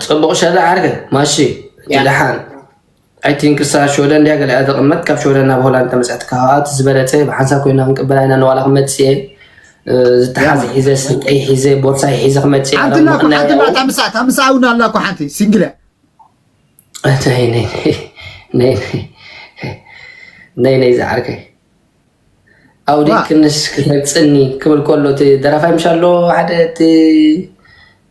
ፅቡቕ ሸላ ዓርከይ ማሺ ድሓን ኣይ ቲንክ እሳ ሽወደን ድያ ገሊኣ ተቐመጥ ካብ ሽወደን ናብ ሆላንድ ተመፅሐት ከዓ እቲ ዝበለፀ ብሓንሳብ ኮይና ክንቅበላ ኢና ንዋላ ክመፅእ እየ ዝተሓዘ ሒዘ ስልጠይ ሒዘ ቦርሳይ ሒዘ ክመፅእ ሓንቲ ኣላ እኮ ሓንቲ እላ እታ ምሳኣ እታ ምሳኣ እውን ኣላ እኮ ሓንቲ ሲንግል እያ ነይ ነይ ነይ ነይ ነይ ዝዓርከይ ኣውዲ ክንስ ክተፅኒ ክብል ከሎ እቲ ደራፋይ ምሻ ኣሎ ሓደ እቲ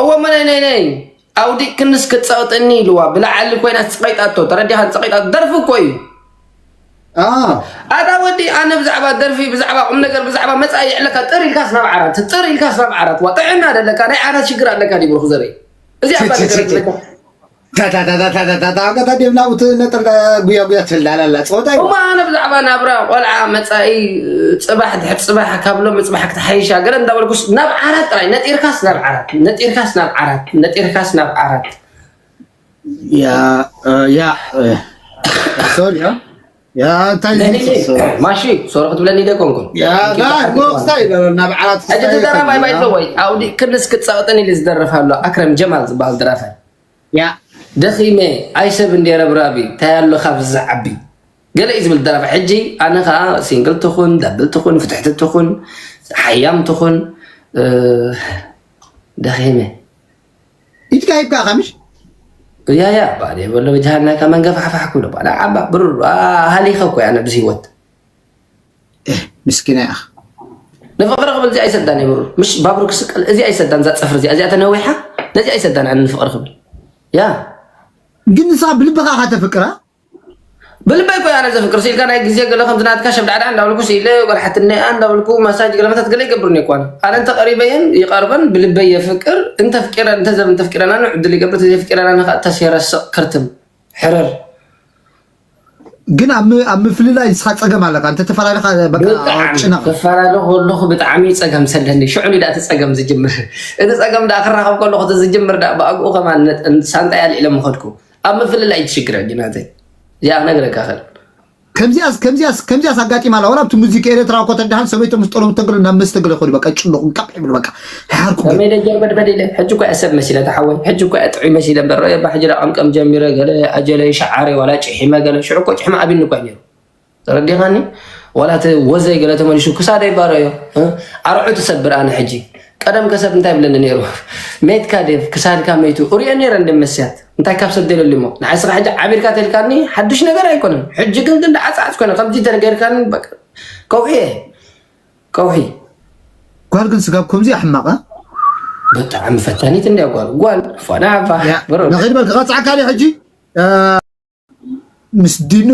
እወ እሞ ናይ ናይ ናይ ኣውዲቅክንስ ክትፀቕጥኒ ኢልዋ ብላዕሊ ኮይና ፀቒጣቶ ተረዲኻ ፀቒጣቶ ደርፊ እኮ እዩ ኣታ ወዲ ኣነ ብዛዕባ ደርፊ ብዛዕባ ቁም ነገር ብዛዕባ መፃኢ ይዕለካ ጥር ኢልካስ ናብ ዓራት ጥር ኢልካስ ናብ ዓራት ዋ ጥዕና ደለካ ናይ ዓራት ሽግር ኣለካ ዲብሩክ ዘርኢ እዚ ኣባ ነገር ታታታታታታታ ገታ ዴብ ናብኡ ትነጥር ጉያጉያ ትላል ኣላ ፀወታ እዩ እሞ ኣነ ብዛዕባ ናብራ ቆልዓ መፃኢ ፅባሕ ድሕሪ ፅባሕ ካብ ሎሚ ፅባሕ ክትሓይሻ ገለ እንዳበልኩስ ናብ ዓራት ጥራይ ነጢርካስ ናብ ዓራት ነጢርካስ ናብ ዓራት ነጢርካስ ናብ ዓራት ያ ያ ሶሪ ማሺ ሶሮ ክትብለኒ ደ ኮንኩን ናብ ዓራት ሕጂ ተደራፋይ ባይቶ ወይ ኣውዲ ክልስ ክፀቕጥን ኢሉ ዝደርፍ ኣሎ ኣክረም ጀማል ዝበሃል ደራፋይ ደኺመ ኣይሰብ እንደ ረብራቢ እንታይ ኣሎ ካብ ዝዓቢ ገለ እዩ ዝብል ደራፋይ ሕጂ ኣነ ከዓ ሲንግል ትኹን ዳብል ትኹን ፍትሕቲ ትኹን ሓያም ትኹን ደኺመ ኢድካ ሂብካ ኢኻ ምሽ ያያ ባል የበሎ በጃሃናካ መንገፋሕፋሕ ክብሎ ባል ዓባ ብሩር ሃሊኸ እኮ ኣነ ብዚ ህይወት ምስኪና ኢኻ ንፍቅሪ ክብል እዚኣ ይሰዳን እዩ ብሩር ምሽ ባቡር ክስቀል እዚኣ ይሰዳን እዛ ፀፍሪ እዚኣ እዚኣ ተነዊሓ ነዚኣ ይሰዳን ኣነ ንፍቅሪ ክብል ያ ግን ንስኻ ብልብኻ ኢኻ ተፍቅራ ብልበይ እኮ እየ ኣነ ዘፍቅርሲ ኢልካ ናይ ግዜ ገለ ከምዚ ናትካ ሸብዳዕዳዕ እንዳበልኩ ስኢለ ጓልሓትነይ እያ እንዳበልኩ ማሳጅ ገለ መታት ገለ ይገብር እኒኦ እኮ ኣነ ኣነ እንተ ቀሪበየን ይቀርበን ብልበይ የፍቅር እንተ ኣፍቂረን እንተ ዘብ እንተ ኣፍቂረናን ዕድል ይገብር እንተ ዘይፍቂረናን ከኣ ተስ የረስቕ ክርትም ሕርር ግን ኣብ ም- ኣብ ምፍልላይ ንስኻ ፀገም ኣለካ እንተተፈላለኻ በቃ ብጣዕሚ ጭነቕ ክፈላለ ከለኹ ብጣዕሚ ፀገም ዘለኒ ሽዑ ዳኣ እቲ ፀገም ዝጅምር እቲ ፀገም ዳኣ ክራኸብ ከለኹ እቲ ዝጅምር ዳኣ ብኣግኡ ከማን ሳንጣይ ኣልዒለ ምኸድኩ ኣብ ምፍልላይ እዩ እቲ ሽግር ሕጂ ናተይ እዚኣ ክነግረካ ክእል ከምዚኣስ ከምዚኣስ ከምዚኣስ ኣጋጢማ ኣላ ወላ ኣብቲ ሙዚክ ኤርትራ እኮ ተዳሃን ሰበይቶም ምስ ጠሎም ተግሎ ናብ መስተግሎ ይኸዱ በቃ ይጭነቑ ቀቕ ይብሉ በቃ ሓርኩም ከመይ ኢለ ጀርበድበድ ኢለ ሕጂ እኳ እየ ሰብ መሲለ ተሓወይ ሕጂ እኳ እየ ጥዑይ መሲለ እምበር ረኦ እባ ሕጂ ደኣ ቀምቀም ጀሚረ ገለ ኣጀለይ ሸዓረ ዋላ ጭሒመ ገለ ሽዑ እኮ ጭሕሚ ኣብኒ እኳ እዩ ነይሩ ተረዲኻኒ ዋላ እቲ ወዘይ ገለ ተመሊሹ ክሳደይ ባሮ እዮ ኣርዑ ትሰብር ኣነ ሕጂ ቀደም ከሰብ እንታይ ብለኒ ነይሩ ሜትካ ዴቭ ክሳድካ መይቱ እሪኦ ነረ እንደ መስያት እንታይ ካብ ሰብ ደለሉ እሞ ንዓይ ስኻ ሕጂ ዓቢርካ ተልካኒ ሓዱሽ ነገር ኣይኮነን ሕጂ ግን ግን ዓፅዓፅ ኮነ ከምዚ ተነገርካኒ ከውሒ እየ ከውሒ ጓል ግን ስጋብ ከምዚ ኣሕማቐ ብጣዕሚ ፈታኒት እንዲያ ጓል ጓል ፏና ዓባ ንኸይድ በል ክቐፅዓካ ሕጂ ምስ ዲኑ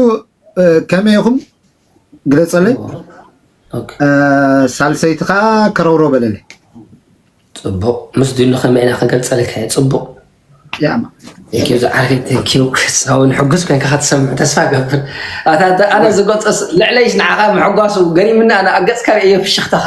ከመይ ኢኹም ግለፀለይ ሳልሰይቲ ከዓ ከረውሮ በለለይ ፅቡቅ ምስ ድሉ ከመይ ኢና ክገልፀልካ እየ ፅቡቅ ዝዓርከይ ተኪው ክሳውን ሕጉስ ኮይንካ ክትሰምዕ ተስፋ ገብር ኣነ ዝገልፆ ልዕለይስ ንዓኻ ምሕጓሱ ገሪምና ኣነ ኣብ ገፅካ ርእየ ፍሽኽታኻ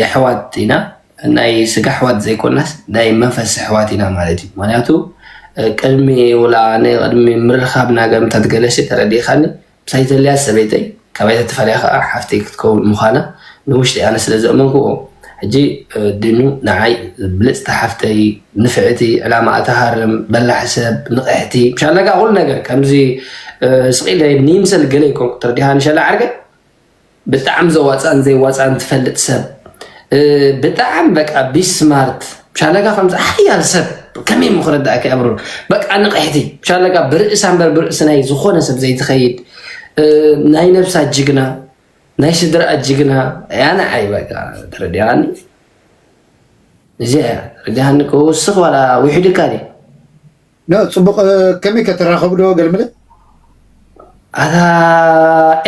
የሕዋት ኢና ናይ ስጋ ኣሕዋት ዘይኮናስ ናይ መንፈስ ኣሕዋት ኢና ማለት እዩ ምክንያቱ ቅድሚ ውላ ቅድሚ ምርኻብና ገምታት ገለሸ ተረዲእኻኒ ምሳይ ዘልያ ሰበይተይ ካባይተ ተፈልያ ከዓ ሓፍተይ ክትከውን ምዃና ንውሽጢ ኣነ ስለ ዘእመንክዎ ሕጂ ድኑ ንዓይ ብልፅቲ ሓፍተይ ንፍዕቲ ዕላማኣ ትሃርም በላሕ ሰብ ንቕሕቲ ሻለጋ ኩሉ ነገር ከምዚ ስቕ ኢለ ንይምሰል ገለ ይኮንኩ ተርዲሃኒ ሸላ ዓርገ ብጣዕሚ ዘዋፅእን ዘይዋፅእን ትፈልጥ ሰብ ብጣዕሚ በቃ ቢስማርት ሻለቃ ከምዚ ሓያል ሰብ ከመይ እሞ ክረዳእካ ኣብሩ በቃ ንቕሕቲ ሻለቃ ብርእሳ እምበር ብርእሲ ናይ ዝኾነ ሰብ ዘይትኸይድ ናይ ነብሳ ጅግና ናይ ስድራኣ ጅግና እያ ንዓይ በቃ ተረዲኣኒ እዚኣ እያ ተረዲኣኒ ክውስኽ ዋላ ውሒዱካ ድዩ ን ጽቡቅ ከመይ ከ ትራከቡ ዶ ገልምለ። ኣታ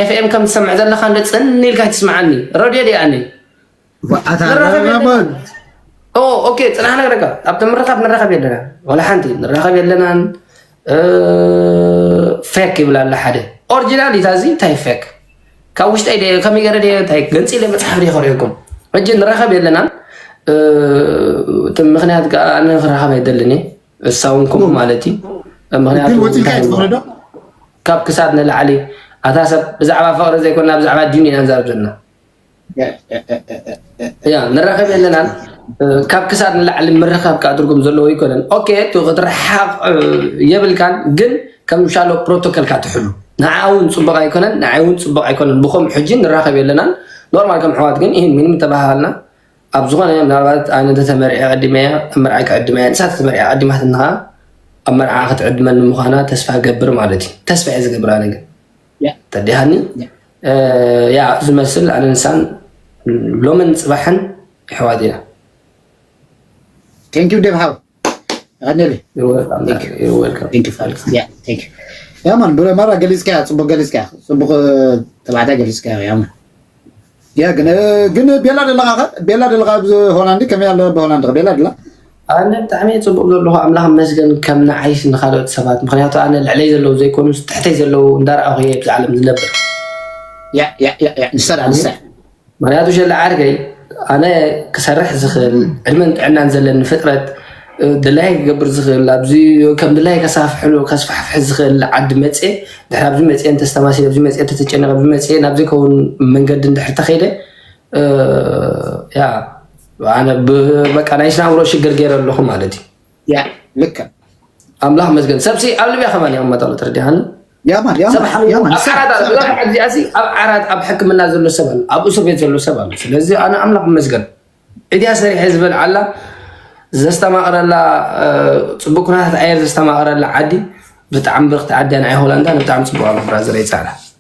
ኤፍኤም ከም ትሰምዕ ዘለካ እንዶ ጽን ኢልካ ኣይትስምዓኒ ረድዮ ድያ ኣነ ኣታ ንራኸብ ኣለና የለና በል ኦ ኦኬ ጽናሕ ነግረካ ኣብቲ ምርኻብ ንራኸብ የለና ዋላ ሓንቲ ንራኸብ የለናን እ፣ ፌክ ይብል ኣላ ሓደ ኦሪጂናል እዩ ታዚ እንታይ ፌክ ካብ ውሽጠይ ድየ ከመይ ገረ ድየ እንታይ ገንፂለ መፅሓፍ ድየ ከሪኦኩም ሕጂ ንራኸብ የለናን እ፣ እቲ ምክንያት ከዓ ኣነ ክራኸብ ኣይደልን እየ እሳ ውን ከምኡ ማለት እዩ ምክንያቱ ግን ወፂልካ እዩ ትፍቅሪ ዶ ካብ ክሳድ ንላዕሊ ኣታ ሰብ ብዛዕባ ፍቅሪ ዘይኮና ብዛዕባ ዲን ኢና ንዛረብ ዘለና ያ ንራኸብ የለናን ካብ ክሳድ ንላዕሊ ምርኻብ ከዓ ትርጉም ዘለዎ ኣይኮነን ኦኬ እቲ ክትረሓቕ የብልካን ግን ከም ሻሎ ፕሮቶኮልካ ትሕሉ ንዓ እውን ፅቡቅ ኣይኮነን ንዓይ እውን ፅቡቅ ኣይኮነን ብከም ሕጂ ንራኸብ የለናን ኖርማል ከም ሕዋት ግን ይህን ምንም ተባሃልና ኣብ ዝኾነ ምናልባት ኣነ እንተተመርዔ ዕዲመያ ኣብ መርዓ ክዕድመያ ንሳ ተመርዓ ዓዲማትኒ ኸዓ ኣብ መርዓ ክትዕድመኒ ምዃና ተስፋ ገብር ማለት እዩ ተስፋ እየ ዝገብር ኣነ ግን ተዲሃኒ ያ ዝመስል ኣነ ንሳን ሎምን ፅባሕን ይሕዋት ኢና ቴንኪው ደብሃብ ኣነለ ያማን ብረመራ ገሊፅካያ ፅቡቅ ገሊፅካያ ፅቡቅ ተባዕታይ ገሊፅካያ ያማን ያ ግን ግን ቤላ ደለኻ ቤላ ደለኻ ኣብዚ ሆላንድ ከመይ ኣሎ ብሆላንድ ቤላ ደላ ኣነ ብጣዕሚ ፅቡቅ ዘለኹ ኣምላኽ መስገን ከም ንዓይስ ንካልኦት ሰባት ምክንያቱ ኣነ ልዕለይ ዘለዉ ዘይኮኑ ትሕተይ ዘለዉ እንዳረኣኹ እየ ብዚ ዓለም ዝነብር ንሳ ንሳ ምክንያቱ ሸለ ዓርከይ ኣነ ክሰርሕ ዝኽእል ዕድመን ጥዕናን ዘለኒ ፍጥረት ድላይ ክገብር ዝኽእል ኣብዚ ከም ድላይ ከሳፍሕሉ ከስፋሕፍሕ ዝኽእል ዓዲ መፅ ድሕሪ ኣብዚ መፅ ተስተማሲ ኣብዚ መፅ ተተጨነቀ ኣብዚ መፅ ናብ ዘይከውን መንገዲ ድሕሪ ተኸይደ ያ በቃ ናይ ስናብሮ ሽግር ገይረ ኣለኹ ማለት እዩ ያዕ ልክዕ ኣምላኽ መስገን ሰብሲ ኣብ ልብያ ከማን እዮም መጠሉ ትርዲሃኒ ያማን ያማን ያማን ኣብ ዓራት ኣብ ሕክምና ዘሎ ሰብ ኣሎ ኣብ እስር ቤት ዘሎ ሰብ ኣሎ ስለዚ ኣነ ኣምላኽ መስገን እድያ ሰሪሐ ዝበል ዓላ ዘስተማቕረላ ፅቡቅ ኩነታት ኣየር ዘስተማቕረላ ዓዲ ብጣዕሚ ብርክቲ ዓዲ ናይ ሆላንዳ ብጣዕሚ ፅቡቅ ኣሎ ብራዘር ይፃዕዳ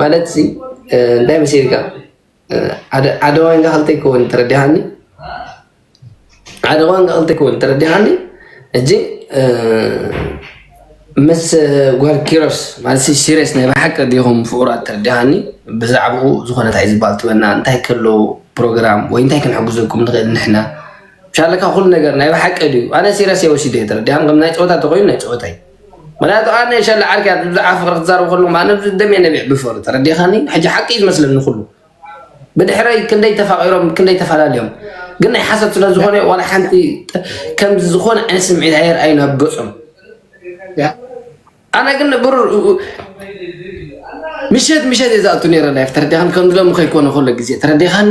ማለት ሲ እንታይ መሲልካ ሓደ ዋንጋ ክልተ ይከውን ተረዲሃኒ ሓደ ዋንጋ ክልተ ይከውን ተረዲሃኒ እጂ ምስ ጓል ኪሮስ ማለት ሲሪየስ ናይ ብሓቂ ዲኹም ፍቁራት ተረዲሃኒ ብዛዕባኡ ዝኾነ እንታይ ዝበሃል ትበና እንታይ ከሎ ፕሮግራም ወይ እንታይ ክንሕግዘኩም ንኽእል ንሕና ሻለካ ኩሉ ነገር ናይ ብሓቂ ድዩ ኣነ ሲሪየስ የወሲደ ተረዲሃን ከም ናይ ፀወታ ተኮይኑ ናይ ፀወታ እዩ ምክንያቱ ኣነ ሸለ ዓርኪ እያ ብዛዕባ ፍቅሪ ክትዛረብ ከለኩም ኣነ ደም እየ ነቢዕ ብፍቅሪ ተረዲእካኒ ሕጂ ሓቂ እዩ ዝመስለኒ ኩሉ ብድሕረይ ክንደይ ተፋቂሮም ክንደይ ተፈላለዮም ግን ናይ ሓሰብ ስለ ዝኾነ ዋላ ሓንቲ ከምዚ ዝኾነ ዓይነት ስምዒት ኣየር ኣዩ ናብ ገጾም ኣነ ግን ብሩ ምሸት ምሸት እየ ዝኣቱ ነረ ላይፍ ተረዲኻኒ ከምዚ ሎሚ ከይኮነ ከሎ ግዜ ተረዲኻኒ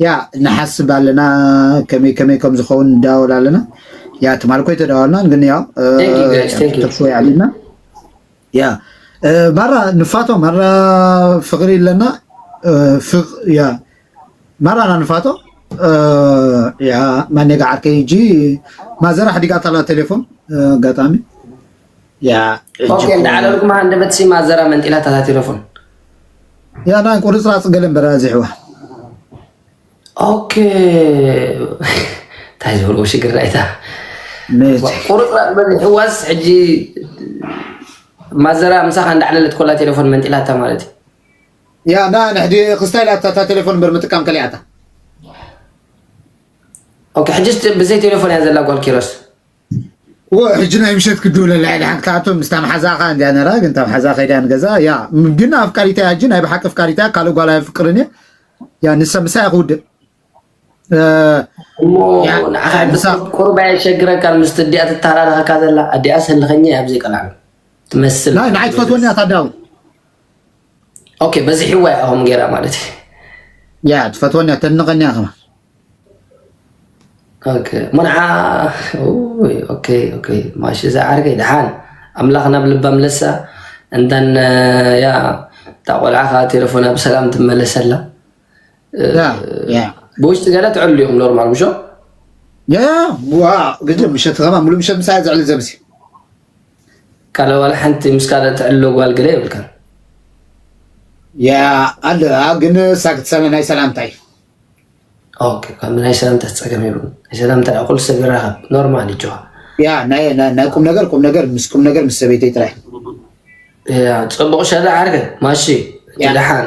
ያእ ንሓስብ ኣለና ከመይ ከመይ ከም ዝኸውን ንዳወል ኣለና ያ ትማል እኮ ኣይተዳወልናን ግን ያው Thank you guys, thank you. ተፍወይ ኣለና ያ እ፣ ማራ ንፋቶ ማራ ፍቅሪ ኣለና እ፣ ፍቅ ያ ማራና ንፋቶ እ፣ ያ ማኔጋ ዓርከይ እጂ ማዘራ ሓዲጋታላ ቴሌፎን እ፣ ኣጋጣሚ ኦኬ እንዳ ዓለልኩም ሃንደበት ሲ ማዘራ መንጢላ ተታቲረፉን ያና ቁርፅራፅ ገለ እምበር ኣዚሕዋ ኦኬ እንታይ ዝበልዎ ሽግር ናይታ ቁርፅራፅ በዚሕዋስ ሕጂ ማዘራ ምሳኻ እንዳዕለለት ኮላ ቴሌፎን መንጢላታ ማለት እዩ ያና ንሕዲ ክስታይ ላታ እታ ቴሌፎን እምበር ምጥቃም ከሊኣታ ኦኬ ሕጂስ ብዘይ ቴሌፎን እያ ዘላ ጓል ኪሮስ ሕጂ ናይ ምሸት ክድውለ ልዕሊ ሓንቲ ክኣቱ ምስታ መሓዛኣ ከዓ እንዲያ ነራ ግን እታ መሓዛኣ ከይዳ ንገዛ ያ ግን ኣፍቃሪታ እያ ሕጂ ናይ ብሓቂ ኣፍቃሪታ እያ ካልእ ጓል ኣይፍቅርን እየ ያ ንሰ ምሳይ ክውድእ እሞ ንዓኻ ቁሩብ ኣየሸግረካ ምስቲ እዲኣ ትተሃላለኸካ ዘላ ኣዲኣ ሰልኸኛ እያ ብዘይ ቀላዕ ትመስል ናይ ንዓይ ትፈትወኒ እያ ታዳውን ኦኬ በዚሕዋ እያ ከምኡ ገይራ ማለት እዩ ያ ትፈትወኒ እያ ተድንቐኒ እያ ከማ ኦኬ ሙንዓ ኡይ፣ ኦኬ ኦኬ ማሽ እዛ ዓርከይ ደሓን ኣምላኽ ናብ ልባ ምለሳ እንተን ያ እታ ቆልዓ ከዓ ቴሌፎና ብሰላም ትመለሰላ ያ ያ ብውሽጢ ገለ ትዕሉ ኢኹም ኖርማል ምሾ ያ ዋ ግዜ ምሸት ከማ ሙሉ ምሸት ምሳይ ዘዕሊ ዘብሲ ካለ ዋላ ሓንቲ ምስ ካልእ ትዕልሎ ጓል ገለ የብልካን። ያ ኣለ ግን ሳክትሰመ ናይ ሰላምታ እዩ ኦኬ ካብ ናይ ሰላምታ ፀገም ይብሉ ናይ ሰላምታ እኹል ሰብ ይራኸብ ኖርማል እዩ ጨዋ ያ ናይ ናይ- ናይ ቁም ነገር ቁም ነገር ምስ ቁም ነገር ምስ ሰበይተይ ጥራይ ያ ፅቡቕ ሸዳ ዓርከ ማሺ ያ። ደሓን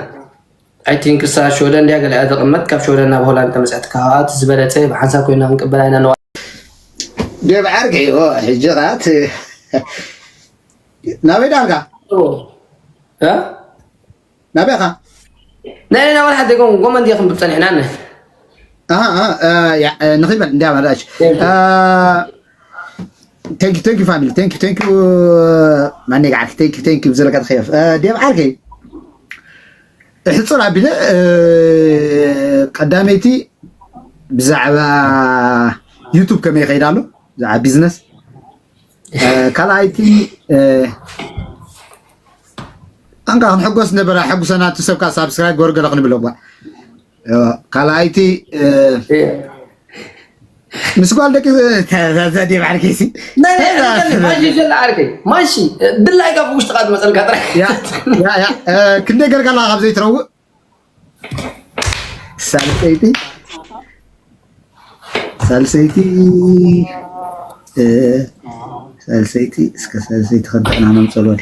I think እሳ ኣብ ሽወደን ድያ ገሊኣ ተቐመጥ ካብ ሽወደን ናብ ሆላንድ ተመጽሕትካ ከኣ እቲ ዝበለጸ ብሓንሳብ ኮይና ክንቅበላ ኢና ነዋ ዴቭ ዓርቂ እዩ ሕጂ ከኣ እቲ ናበይ ዳንካ ናበይ ኻ ናይ ና ወላ ሓደ ጎን ጎመን ዲኹም ብጸኒሕና ነ ንኺበል እንዲያ መራሽ ቴንክ ዩ ቴንክ ዩ ፋሚሊ ቴንክ ዩ ቴንክ ዩ ማኔጋ ዓርኪ ቴንክ ዩ ቴንክ ዩ ብዝለካ ተኸየፍ ዴቭ ዓርኪ እሕፅር ኣቢለ ቀዳመይቲ ብዛዕባ ዩቱብ ከመይ ይኸይድ ኣሎ ብዛዕባ ቢዝነስ ካልኣይቲ ኣንካ ክንሕጎስ ነበረ ሕጉሰና እቲ ሰብካ ሳብስክራይብ ገበሩ ገለ ክንብሎ እኳ ካልኣይቲ ምስ ጓል ደቂ ዘዴ ባዕልኪሲ ማሽሸላ ዓርከይ ማሺ ድላይ ካብ ውሽጥካ ዝመፀልካ ጥራሕ ክንደይ ገርካ ኣለካ ካብ ዘይትረውእ ሳልሰይቲ ሳልሰይቲ ሳልሰይቲ እስከ ሳልሰይቲ ከንተዕና ነምፀልወል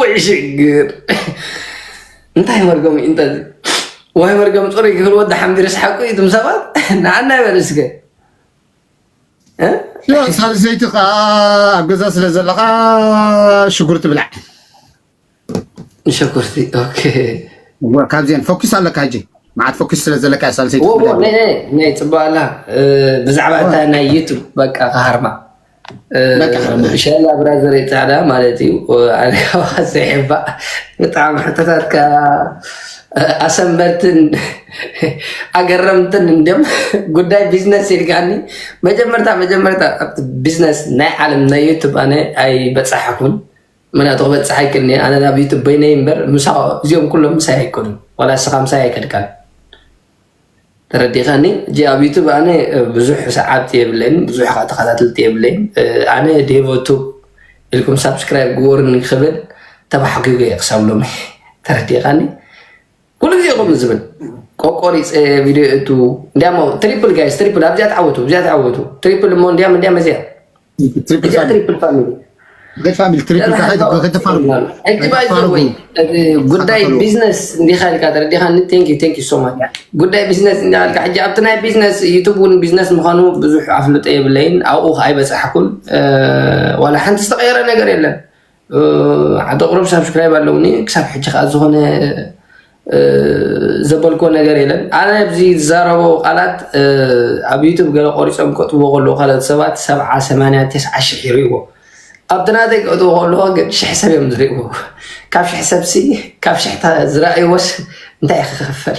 ወይ ሽግር እንታይ መርገሙ እዩ እንተዚ ወይ መርገም ፅሩይ ክብል ወዲ ሓምድ ርስሓቁ እዩ ትም ሰባት ንዓና ይበል እስከ ሳልሰይቲ ከዓ ኣብ ገዛ ስለ ዘለካ ሽጉርቲ ብላዕ ሽጉርቲ ካብዚአን ፎኪስ ኣለካ ሕጂ መዓት ፎኪስ ስለ ዘለካ ሳልሰይቲ ናይ ፅቡቅ ኣላ ብዛዕባ እታ ናይ ዩቱብ በቃ ክሃርማ ሻላ ብራዘር ፃዕዳ ማለት እዩ ኣነካዋ ስሒባእ ብጣዕሚ ሕቶታትካ ኣሰንበድትን ኣገረምትን እንዲም ጉዳይ ቢዝነስ ኢልካኒ መጀመርታ መጀመርታ ኣብቲ ቢዝነስ ናይ ዓለም ናይ ዩቱብ ኣነ ኣይበፃሓኩን ምክንያቱ ክበፅሕ ኣይክልኒ ኣነ ናብ ዩቱብ በይነይ እምበር እዚኦም ኩሎም ምሳይ ኣይኮኑን ዋላ ስኻ ምሳይ ኣይከድካን ተረዲካኒ ሕጂ ኣብ ዩቱብ ኣነ ብዙሕ ሰዓብቲ የብለይን ብዙሕ ከዓ ተከታተልቲ የብለይን ኣነ ዴቮ ቱብ ኢልኩም ሳብስክራይብ ግበሩኒ ክብል ተባሕጒገ እየ ክሳብ ሎሚ ተረዲካኒ ኩሉ ግዜ ከምኡ ዝብል ቆቆሪፀ ቪድዮ የእቱ እንዲያሞ ትሪፕል ጋይስ ትሪፕል ኣብዚኣ ተዓወቱ ኣብዚኣ ተዓወቱ ትሪፕል እሞ እንዲያም እንዲያም እዚኣ እዚኣ ትሪፕል ፋሚሊ ጉዳይ ቢዝነስ እንዲኻ ኢልካ ተረዲኻኒ ቴንኪ ቴንኪ ሶ ማች ጉዳይ ቢዝነስ እንዲኻ ኢልካ ሕጂ ኣብቲ ናይ ቢዝነስ ዩቱብ እውን ቢዝነስ ምዃኑ ብዙሕ ኣፍልጦ የብለይን ኣብኡ ከዓ ኣይበፃሕኩን ዋላ ሓንቲ ዝተቐየረ ነገር የለን ዓዲ ቁሩብ ሳብስክራይብ ኣለውኒ ክሳብ ሕጂ ከዓ ዝኾነ ዘበልኮ ነገር የለን ኣነ ኣብዚ ዝዛረቦ ቃላት ኣብ ዩቱብ ገለ ቆሪፆም ከጥዎ ከለዉ ካልኦት ሰባት ሰብዓ ሰማንያ ተስዓ ሽሕ ይርእዎ ኣብቲ ናተይ ከእትዎ ከለዎ ግን ሽሕ ሰብ እዮም ዝርእዎ ካብ ሽሕ ሰብሲ ካብ ሽሕታ ዝረኣይዎስ እንታይ ክኸፈል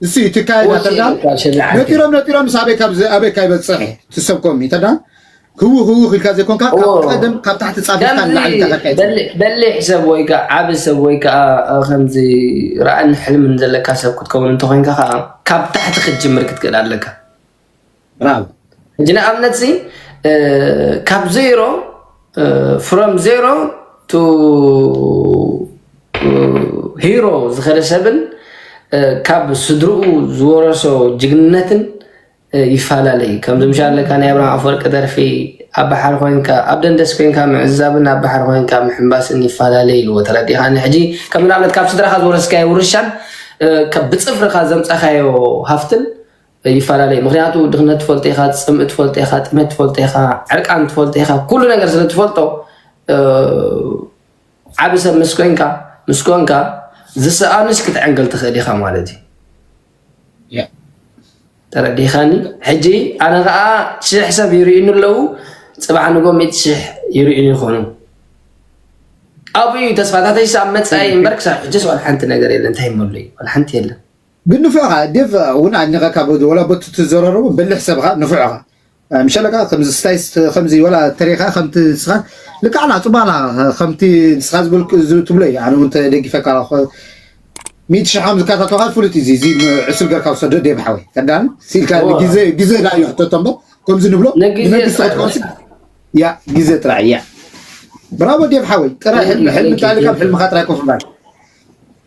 እሲ እቲ ካይዳ ኦኬ ተዳ በቃ ሸለ ዓዲ ነጢሮም ነጢሮም ምስ ኣበይ ካብ ኣበይ ካይበፅሕ ትሰብኮም እዩ ተዳ ህው ህው ኢልካ ዘይኮንካ ካብ እዎ ቀደም ካብ ታሕቲ ፃቢብካ ከምዚ ንላዕሊ ኢልካ ከካይድ በሊ ትኽእል በሊሕ ሰብ ወይ ከዓ ዓቢ ሰብ ወይ ከዓ እ፣ ከምዚ ራእን ሕልምን ዘለካ ሰብ ክትከውን እንተኮይንካ ከዓ ካብ ታሕቲ ክትጅምር ክትክእል ኣለካ ብራቮ ሕጂ ንኣብነት ሲ ካብ ዜሮ ፍሮም ዜሮ ቱ ሂሮ ዝኸደ ሰብን ካብ ስድርኡ ዝወረሶ ጅግንነትን ይፈላለ እዩ ከምዚ ምሻ ኣለካ ናይ ኣብርሃ ኣፈወርቂ ደርፊ ኣብ ባሕሪ ኮንካ ኣብ ደንደስ ኮንካ ምዕዛብን ኣብ ባሕሪ ኮንካ ምሕምባስን ይፈላለ ኢልዎ ተረዲኻኒ ሕጂ ከም ንኣብነት ካብ ስድራኻ ዝወረስካዮ ውርሻን ብፅፍርካ ዘምፀኻዮ ሃፍትን ይፈላለይ ምክንያቱ ድክነት ትፈልጦ ኢካ ፅምኢ ትፈልጦ ኢካ ጥሜት ትፈልጦ ኢካ ዕርቃን ትፈልጦ ኢካ ኩሉ ነገር ስለ ትፈልጦ ዓብ ሰብ ምስ ኮንካ ምስ ኮንካ ዝሰኣኑስ ክትዕንግል ትክእል ኢካ ማለት እዩ ተረዲኻኒ ሕጂ ኣነ ከዓ ሽሕ ሰብ ይርእዩኒ ኣለዉ ፅባሕ ንጎ ሚእቲ ሽሕ ይርእዩኒ ይኾኑ ኣብኡ እዩ ተስፋታተይ ኣብ መፃኢ እምበር ክሳብ ሕጂስ ዋላ ሓንቲ ነገር የለን እንታይ መሉ እዩ ዋላ ሓንቲ የለን ግን ንፉዕ እኻ ዴቭ እውን ኣድኒቀካ ወላ ቦቲ ትዘረረቦ በሊሕ ሰብ እኻ ንፉዕ እኻ ምሸለካ ከምዚ ስታይስ ከምዚ ወላ ተሪኻ ከምቲ ንስኻ ልክዕ ኣላ ጽቡቅ ኣላ ከምቲ ንስኻ ዝበልክ ትብሎ እዩ ኣነ እውን ተደጊፈካ ሚእቲ ሽሕ ከም ዝከታተልካ ፍሉጥ እዩ እዚ ዕሱል ገርካ ውሰዶ ዴቭ ሓወይ ተዳን ሲልካ ግዜ ግዜ ዳዩ ሕተቶ እምበር ከምዚ ንብሎ ንመንግስቲ ክትኮንሲ ያ ግዜ ጥራይ ያ ብራቮ ዴቭ ሓወይ ጥራይ ሕልሚ ሕልሚ እንተሃልካ ኣብ ሕልምኻ ጥራይ ኮፍ ምባል